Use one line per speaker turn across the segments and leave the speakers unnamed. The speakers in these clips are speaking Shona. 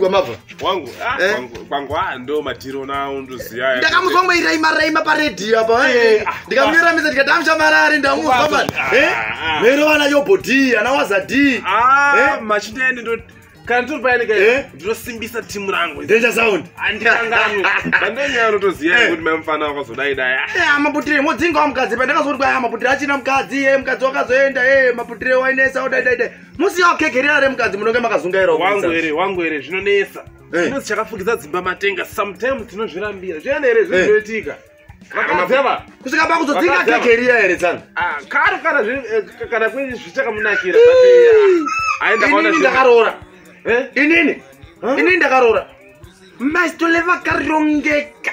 kwamabva wangu ah, eh?
kwangu ah, ndo matiro nawo ndoziya ndakamuzwa mweiraima
raima paredhiyo apa eh, eh, ah, ndikamuyoramisa ndikati amuchamarari ndamuzwa mani mero vana yobo d ana waza d machindeni
ndo kana tiri payani kai eh? ndinosimbisa timu rangu danger sound
andikanganwe
bandonyaya unotoziva eh. kuti mai mufana wakazodai dai ah. eh, ah, maputire modzingawo
mukadzi pandakazoti kwaya ah, maputire achina mukadzi e mukadzi wakazoenda e maputire wainesa udaidai dai musiya wakegerera are mukadzi munonge makazungaira wangu here wangu here
zvinonetsa eh. zvinonzi chakafukidza dzimba matenga sometimes tinozvirambira zviana here zvinhu eh. zvinoitika kusvika pakuzodzinga
kegerira here tsana ah, karo kana eh,
kune zvichakamunakira inini ndakaroora
inini inini ndakaroora maistoleva karongeka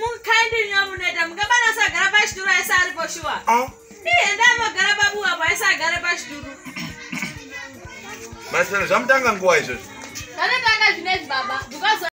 mukaindinyamuneta mukabana asagara pachituru aisa ari poshuwa ah. ienda amagara pabuwa po aisa agare pachituru
masero zvamutanga nguva izvozvo zvanotanga
zvinezi baba because